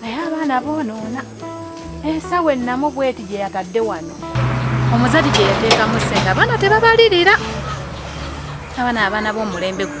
naye abaana boonoona ensawo ennamu bweti gye yatadde wano omuzadi gye yateekamu sente abaana tebabalirira abaana abaana b'omulembe gwe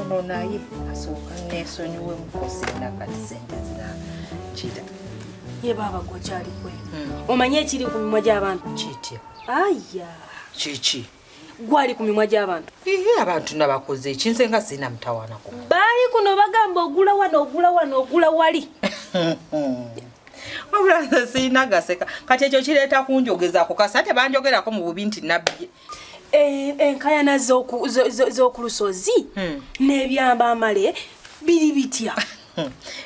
ono naye asooka neesonyiwe mukosi nakati sente zinakira ye baaba gwokyali kwe hmm. omanyi ekiri ku mimwa gy'abantu kitya aya kiki gwali ku mimwa gy'abantu ihe abantu nabakoze ekinze nga sirina mutawanako baali kuno bagamba ogula wano ogula wano ogula wali wabula nze sirina gaseka kati ekyo kireeta kunjogezaako kasi ate banjogerako mu bubi nti nabbi enkayana z'oku lusozi hmm. n'ebyamba amale biri bitya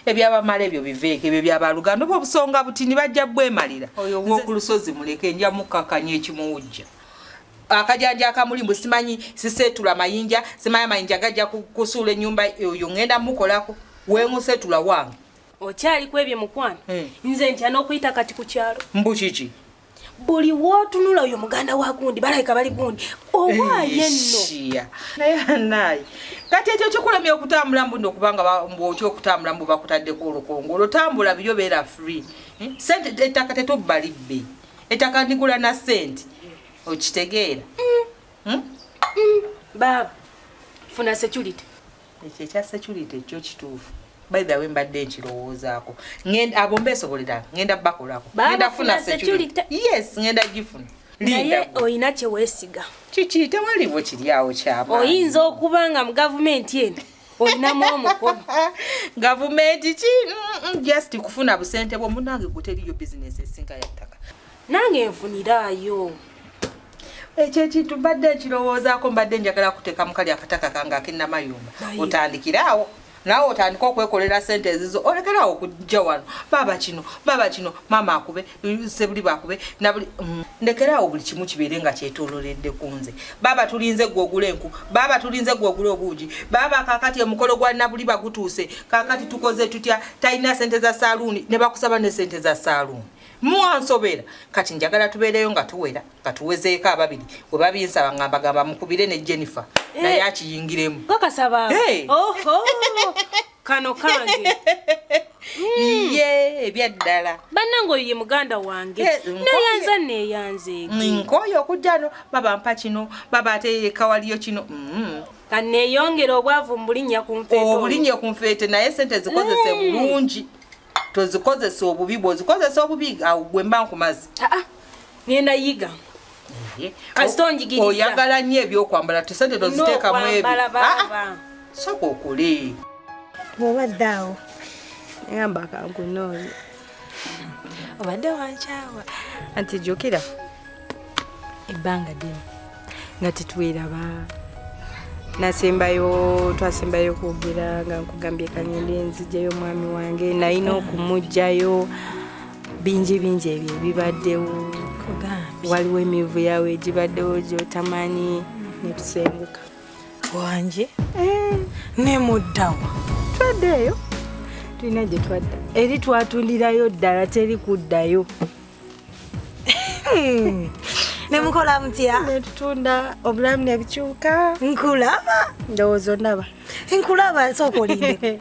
ebyabamala ebyo biveeko ebyo byabaluganda oba obusonga buti nibajja bwemalira oyo woku lusozi muleke nja mukkakanya ekimuwujja akajanja akamuli mbu simanyi siseetula mayinja simanyi amayinja gajja kusuula ennyumba oyo ŋŋenda mukolako weŋuseetula wange okyali kwebyo mukwano hmm. nze ntya n'okuyita kati ku kyalo mbu kiki buli wotunula oyo muganda wa gundi balabika bali gundi owaaye nno naye anaye kati ekyo kikulemye okutambula mbuno okubanga otya okutambula mbu bakutaddeko olukongo olwotambula biyo beera free eh, sente ettaka tetubba libbe ettaka ndigula na sente okitegeera hmm? Hmm? Hmm? baaba funa security ekyo ekya security kyo kituufu by the way mbadde nkirowoozaako ngenda abo mbeesobolera ngenda bakolako ngenda funa security yes ngenda gifuna naye olina kyeweesiga kiki tewaliwo kiryawo kyama oyinza okuba nga mu gavumenti eno olinamu omukono gavumenti ki mm, mm, just kufuna busente bwo munange gwe teriyo bizinesi esinga yattaka nange nfuniraayo ekyo ekintu mbadde ekirowoozaako mbadde njagala kuteeka mukali akataka kange akenamayumba otandikire awo nawe otandika okwekolera sente ezizo olekerawo okujja wano baaba kino baaba kino maama akube sebuli bakube nabuli mm. ndekerawo buli kimu kibeere nga kyetoloredde ku nze baaba tulinze gwe ogula enku baaba tulinze gwe ogula obuugi baaba kakati emukolo gwa nabuli bagutuuse kakati tukoze tutya talina sente za saaluuni ne bakusaba ne sente za saaluuni muwansobera kati njagala tubeereyo nga tuwera nga tuwezeeko ababiri we babinsaba nga mbagamba mukubire ne jennifer eh. naye akiyingiremu kakasaba eh. kano kange ye hmm. ebyaddala bannange oyo ye muganda wange eh, neyanza neyanze nkoyo okujjano baba mpa kino baba ate kawaliyo kino mm. kaneyongera obwavu mubulinya kunfeete obulinya kunfeete naye sente zikozese bulungi mm. tozikozesa obubi bwozikozesa obubi awo gwe mba nkumazi ah, ah. ngenda yiga mhm. oyagala nnyo ebyokwambala tesente toziteekamu ebyo ah, soka okule obadde awo ngamba kankunooyo obadde wankyawa anti jukira ebbanga ddene nga tetweraba nasembayo twasembayo kwogera nga nkugambye kanyende nzijayo omwami wange nalina okumugjayo bingi bingi ebyo ebibaddewo waliwo emivu yawe egibaddewo gyotamanyi netusenguka wange eh. nemuddawa twaddeeyo tulina gyetwadda eri twatundirayo ddala teri kuddayo Hmm. nemukola mutya netutunda obulamu nebikyuka nkulaba ndowooza ondaba nkulaba nsooka olinde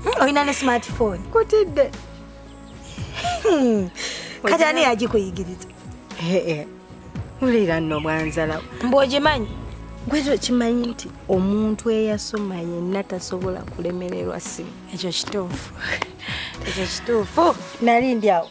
hmm, olina ne smartphone kutidde hmm. kati ani yagikuyigiriza wulira nno bwanzalawo mbu ogimanyi gwekyo kimanyi nti omuntu eyasoma yenna tasobola kulemererwa simu ekyo kituufu ekyo kituufu nali ndi awo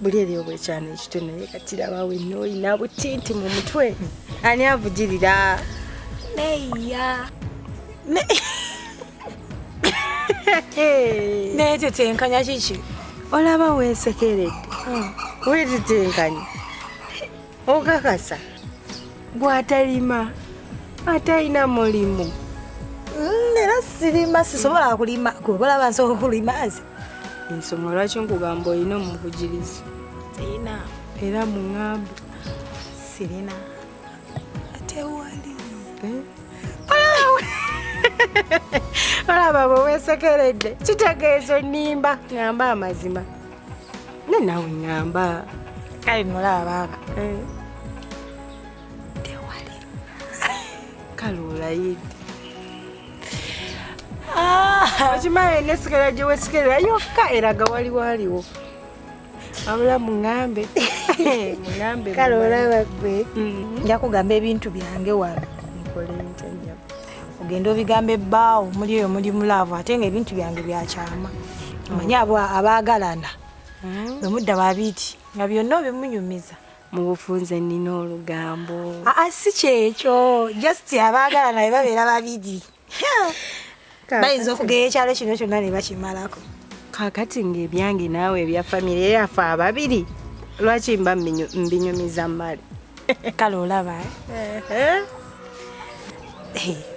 buli eri obwekyana ekito naye kati labawo enna olina butinti mu mutwe ani avugirira neya naye tetenkanya kiki olaba weesekeredde hmm. wetetenkanya okakasa gwatalima atalina mulimu mm, era sirima sisobola kulima kubalaba nsobola kulima nze ensonga lwaki nkugamba olina omuvugirizi sirina era muŋambe sirina atewali eh? olaba bwe weesekeredde kitegeezo nnimba ŋamba amazima ne nawe ngamba kale nolaba baaba eh. tewali kale olayidde ah. okimaye nesigala gyewesigala yokka eraga wali waliwo abula muŋambe muŋambe kale olaba gwe mm-hmm. nja kugamba ebintu byange wano nkole ntya ogenda obigambe baawo muli eyo muli mulaavu ate nga ebintu byange byakyama manye abo abaagalana hmm. bwemudda babiti nga byonna obimunyumiza mubufunze nina olugambo aa ah, ah, si kyekyo just abaagalana be babeera babiri bayinza okugera ekyalo kino kyonna ne bakimalako kakati ngaebyange naawe ebya famiry yaffe ababiri lwaki mba mbinyumiza mali kale olaba eh? eh.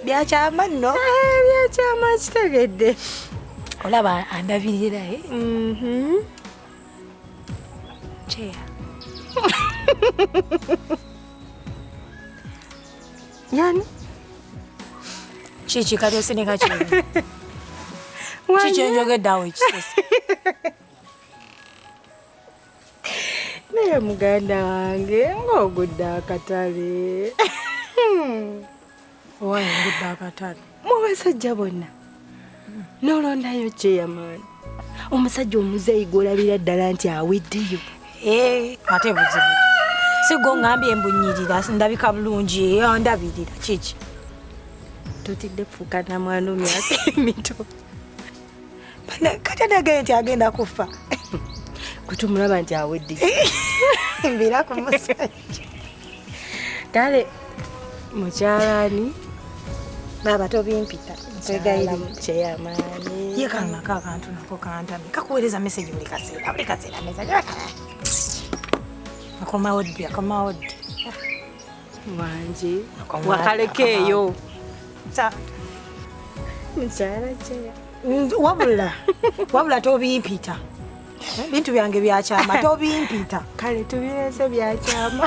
byakyama nno eh, byakyama kitegedde olaba andabirira eh? mhm. kyeya yani kiki kati osinika ki kiki enjogedde awo ekisesa naye muganda wange ng'ogudde akatale owaye ngudde akatale mu basajja bonna nolondayo kyeyamaani omusajja omuzeeyi gwolabira ddala nti aweddeyo eh, ate buzibu sigo ngambye embunyirira ndabika bulungi eh, ndabirira kiki totidde kufuka namwana omyaka emito kati adagaye nti agenda kuffa kutumulaba nti awedde mbira ku musajja kale mukyalani baaba tobimpita nkwegayirikyeyamaani ye kanako akantu nako kantami kakuweereza meseji buli kaseera buli kaseera meza akomawo ddi akomawo ddi wangi wakalekeeyo mukyala kyeya wabula wabula tobimpita bintu byange byakyama tobimpita kale tubirese byakyama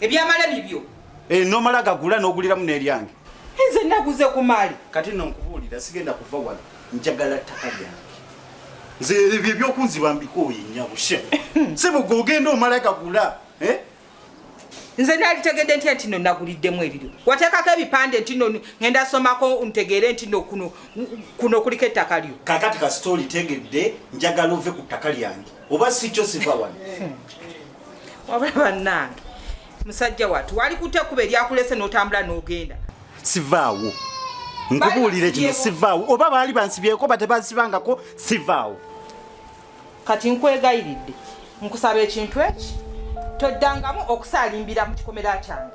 ebyamala bibyo eh, nomala gagula n'oguliramu n'eryange nze naguze ku maali kati no nkubuulira sigenda kuva wala njagala ttaka lyange nze ebyo ebyokunziba mbikooye nyabushe sebugwe ogenda omala gagula eh? nze nalitegedde ntya ntino naguliddemu ebiryo wateekako ebipande ntino ngenda somako ntegeere ntino kuno kuno kuliko ettaka lyo kakati kasita olitegedde njagala ove ku ttaka lyange oba sikyo siva wano hmm. wabula bannange musajja watu wali kute kuba eryakulese n'otambula n'ogenda sivaawo nkubuulire kino sivaawo oba baali bansibyeko batebansibangako sivaawo kati nkwegayiridde nkusaba ekintu eki toddangamu okusaalimbira mu kikomera kyange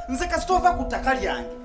nze kasita ova ku ttaka lyange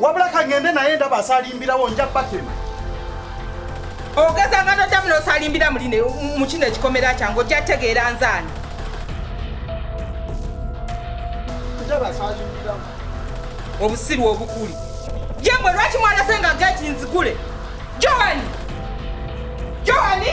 wabula kagende naye ndaba asalimbirawo nja batema ogeza nga nodamu nosalimbira muline mu kino ekikomera kyange ojja tegeera nzaani obusiru obukuli yemwe lwaki mwanase nga geti nzigule johani johani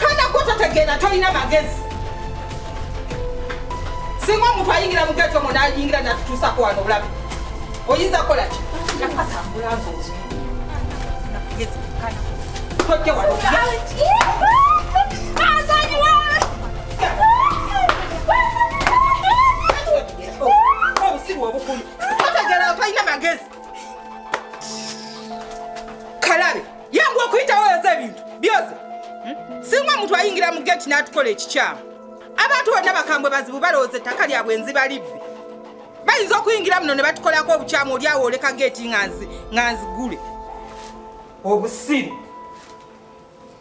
kana gwe totegeera tolina magezi singa omuntu ayingira mu geto mu nayingira natutuusako wano obulabe oyinza kukola ki tojja wano kalabe yangu okuyitawo yoza ebintu byoze hmm? singa omuntu ayingira mu geti n'atukola ekikyamu abantu bonna bakambwe bazibu balowooza ettaka lyabwe nziba libbi bayinza okuyingira muno ne batukolako obukyamu oli awo oleka geeti nga nzigule obusiru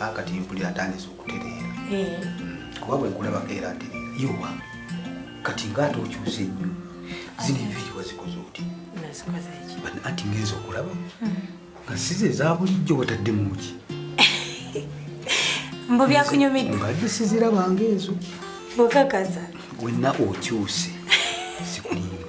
akati mpulira atandise okutereera eh. hmm, kuba bwe nkulabako era atereera yowa kati ngaate okyusa ennyo zino enviiri wazikoze oti anti ngenza okulaba hmm. nga size ezabulijjo wataddemuki mbu byakunyumidde mbadde sizirabanga ezo bukakasa wenna okyuse sikulimba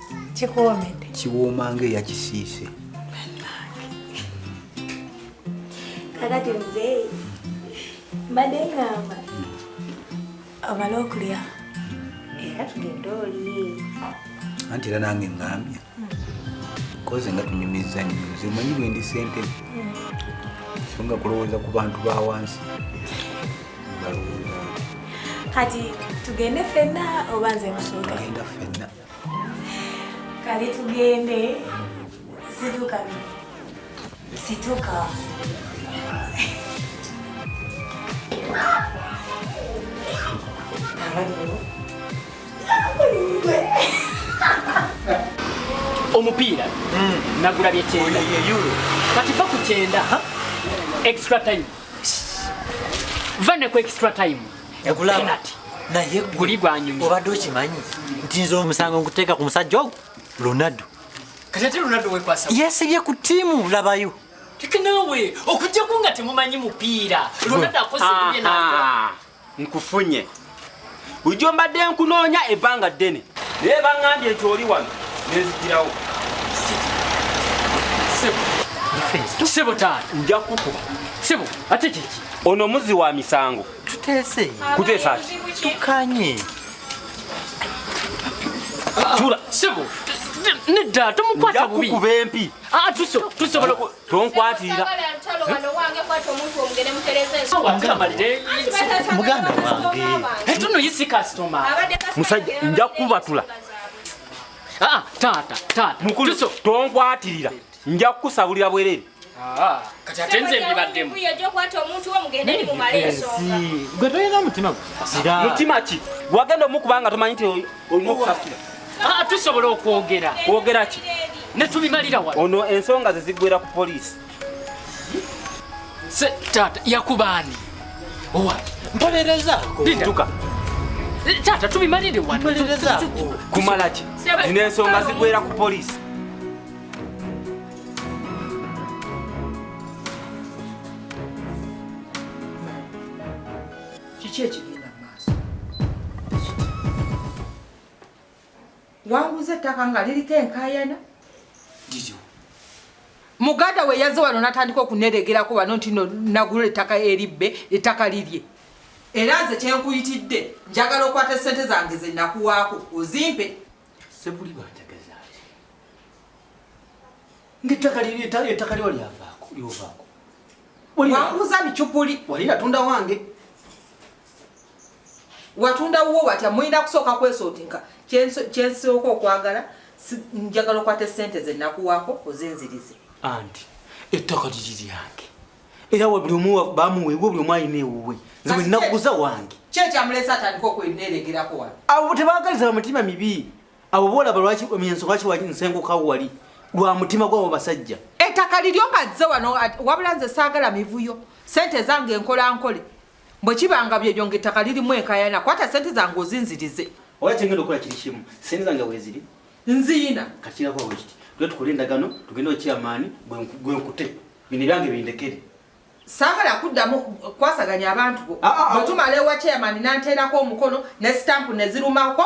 kikuwoomedde kiwooma nga eyakisiise kakati muzeeyi mbadde ngamba obala okulya era tugende oli anti era nange ngambye koze nga tunyumizza nnyo nze manyi bwendi sente so nga kulowooza ku bantu ba wansi kati tugende fenna oba nze nkusuuka fenna Kale tugende situka situka omupiira hmm. nagula byekyenda kati va ku kyenda extra time va ne ku extra time ekulaba naye guli gwanyumye obadde okimanyi nti nze omusango nkuteeka ku musajja ogwo ronaldo kati ate ronaldo wekwasa yesibye ku tiimu labayo teke naawe okujjako nga temumanyi mupiira ronaldo akoze ebibye naa nkufunye bulijjo mbadde nkunoonya ebbanga ddene naye baŋŋambye nti oli wano nezigirawo sebo taata nja kukuba sebo ate kiki ono muzi wa misango tuteese kuteesa ki tukanye tula sebo nedda tomukwata bubi kuba empi ah, tusobola tonkwatira muganda wange etuno eh, yisi kasitoma musajja nja kukubatula ah, taata taata tonkwatira nja kukusabulira bwerere ah, kati ate nze mbibaddemu gwe tolina mutima mutima ki wagenda omukuba nga tomanyi nti olina okusasula ah, tusobola okwogera kwogera ki netubimalira wa ono ensonga ze ziggwera ku poliisi se taata yakubaani owa mpolereza tuka eh, taata tubimalire wa kumala ki zino ensonga ziggwera ku poliisi kiki ekigenda mu maaso wanguza ettaka nga liriko enkayana liryo muganda we yaze wano natandika okuneregerako wano nti nagula ettaka eribbe ettaka lirye era nze kyenkuyitidde njagala okwata esente zange zenakuwaako ozimpe Sebuli bw'ategeza ati ng'ettaka ettaka liwa lyavaako lyovaako wanguza bicupuli wali natunda wange watunda wuwo watya mulina kusooka kwesootinka kyensooka okwagala njagala okwata esente ze nakuwaako ozinzirize anti ettaka liri lyange era buli omu bamuwa ewuwe buli omu alina ewuwe nze bwe nnakuguza wange kyekyamulesa atandika okweneeregerako wano abo tebaagaliza bamutima mibi abo boolaba lwaki emyenso lwaki nsengukawo wali lwa mutima gwabo basajja ettaka liryo nga zze wano wabula nze saagala mivuyo sente ezange nkola nkole bwe kibanga byebyo nga ettaka lirimu enkayana kwata sente zange ozinzirize oba kyengenda okukola kiri kimu sente zange weziri nziina kakirakwawekiti tuge tukole endagano tugende okyamaani gwenkute Bino byange bindekere. Saagala kuddamu kwasaganya abantu bo. Ah, ah, ah. Bwe tumala ewa chairman n'anteerako omukono ne stamp ne zirumako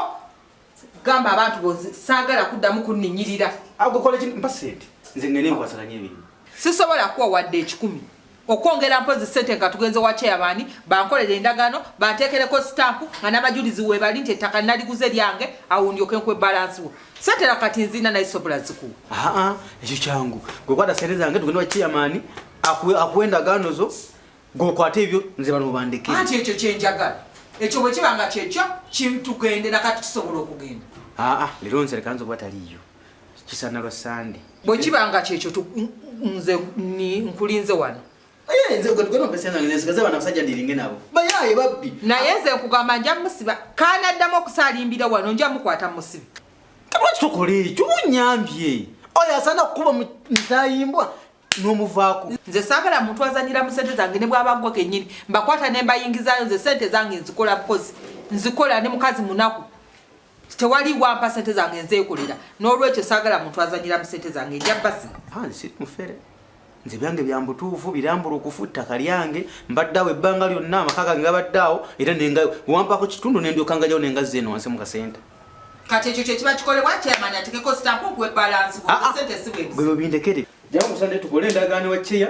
gamba abantu bo saagala kuddamu kunninyirira. Agwe kola ki mpa ssente nze ngende nkwasaganya emirimu. Sisobola kuwa wadde ekikumi. Okwongera mpozi ssente nga tugenze wa chairman bankolera endagaano banteekereko stamp nga n'abajulizi weebali nti ettaka naliguze lyange awo ndyoke nkwe balance wo. Satera kati nzina naye sobola ziku. Ah ah, ekyo kyangu. Gwe kwata sente zange tugende wa chairman akuwe akuwe ndagaano zo. Gwe kwata ebyo nze bano bandeke. Anti ekyo kye njagala. Ekyo bwe kiba nga kyekyo kintugendera kati tusobola okugenda. Ah ah, lero nze kanzo kuba taliyo. Kisana lwa Sunday. Bwe kiba nga kyekyo nze nkulinze wano. Eh, nze gwe tugenda ompesa zange nesigaza bana basajja ndiringe nabo bayaye babbi naye nze nkugamba nja musiba kana addamu okusalimbira wano nja mukwata musibi lwaki tokola ekyo onyambye oyo asana okukuba mutayimbwa nomuvaako nze sagala muntu azanyira mu sente zange ne bwaba gwe kenyini mbakwata nembayingizayo nze sente zange nzikola bukozi nzikola ne mukazi munaku tewali wampa sente zange nzeekolera n'olwekyo saagala muntu azanyira mu sente zange njabasi siri mufere nze byange bya mbutuufu birambula okufu ttaka lyange mbadde awo ebbanga lyonna amaka gange gabadde awo era nenga wampako kitundu nendyokangajawo nenga zeeno wansi mu kasente kati ekyo kyekiba kikolebwa kyamani atekeko sitampu okuwa ebalansi ah, ah. sente siwe bwebyo bindekere jawo musande tukole endagaano wa ceya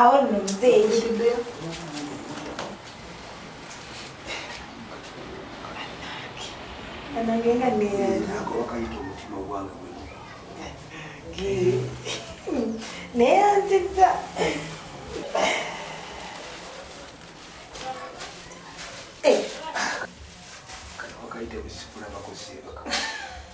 Awo nno muzeeyi banange nga neyanzinaakawakayita omutima ogwange neyanziza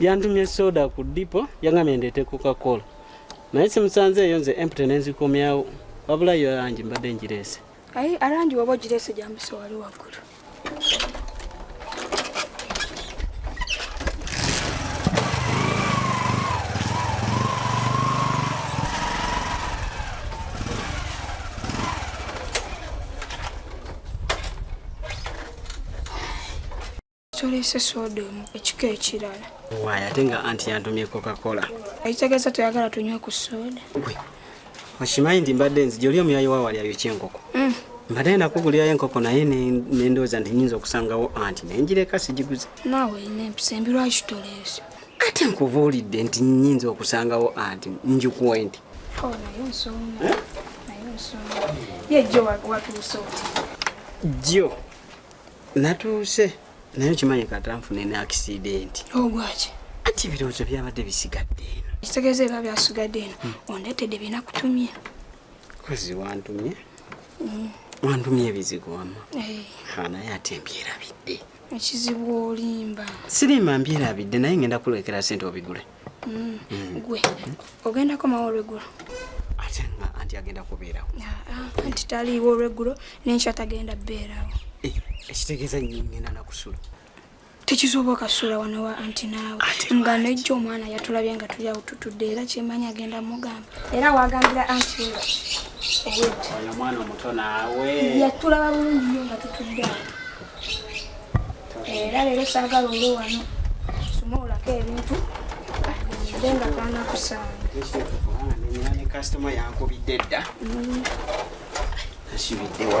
yantumye soda ku dipo yangambye ndeete coca-cola naye simusanze eyo nze empty nenzikomyawo wabula yo arangi mbadde ngireese ayi arangi waba ogireese gyambiso wali waggulu Tolese soda omu ekika ekirala. Waaya ate nga anti yantumye Coca-Cola. Ekitegeeza toyagala tunywe ku soda. Gwe okimanyi nti mbadde nzija oli omuyayi wa wali ayokya enkoko. Mm. Mbadde nakugulirayo enkoko naye nendowooza nti nyinza okusangawo anti nenjireka sigiguze. Naawe olina empisa embi lwaki tolese? ate nkubuulidde nti nyinza okusangawo anti njukuwe nti oh, jjo eh? natuuse naye okimanyi katanfune ne akisidenti ogwaki oh, anti ebirowoozo byabadde bisigadde eno ekitegeeza era byasigadde eno hmm. ondeetedde bina kutumye kozi wantumye hmm. wantumye ebizigo wama eh. naye ate mbyerabidde ekizibu olimba sirimba mbyerabidde naye ngenda kulekera sente obigule mm. Mm. gwe ogendako mawe olweggulo ate nga anti agenda kubeerawo anti taliiwo olweggulo nenkya tagenda beerawo eh, ekitegeeza ngenda nakusula tekisoboka sula wano wa anti naawe nga nejjo omwana yatulabye nga tuli awo tutudde era kyemanyi agenda mugamba era wagambira anti omwana omuto naawe yatulaba bulungi nyo nga tutudde awo era leero saagala olwo wano sumawulako ebintu nde nga kaana kusaanakasitoma yankubidde dda mm. asibidde wa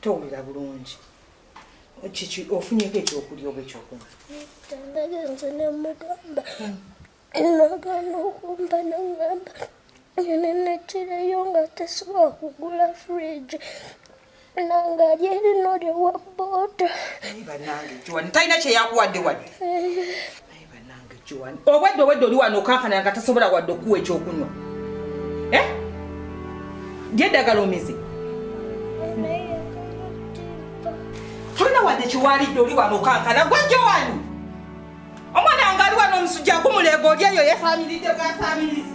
towulira bulungi kiki ofunyeko ekyokulya oba ekyokunywa nagenze nemugamba nagana okumba nangamba nenekirayo nga tesobola kugula fridge nanga gyerino lyewa boda naye banange joan talina kyeyakuwadde wadde naye banange joan obwedde obwedde oli wano okankana nga tasobola wadde okuwa ekyokunywa eh? lyeddagala omize tolina wadde kyewalidde oli wano okankana gwe joan omwana nga ali wano omusujja gumuleega oli eyo yefaamiridde bwafaamirizi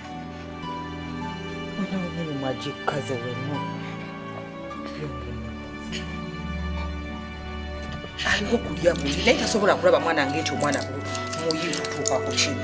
Unaumini mwajikaze wenu. Alina okulya buli naye tasobola kulaba mwana ng'ekyo omwana muyi kutuuka ku kino.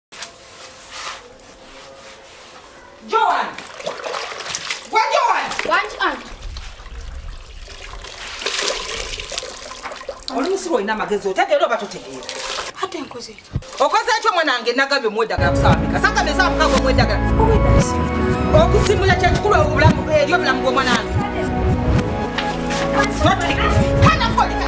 Joan! Gwa Joan! Wangi anti. Oli musiru olina amagezi otegeera oba totegeera. Ate nkoze ekyo. Okoze ekyo mwanange nagabye omwedagala kusabika. Saka beza mukago omwedagala. Obwedasi. Okusimula kye kikulu obulamu eri obulamu bw'omwanange. Totegeera. Kana koleka.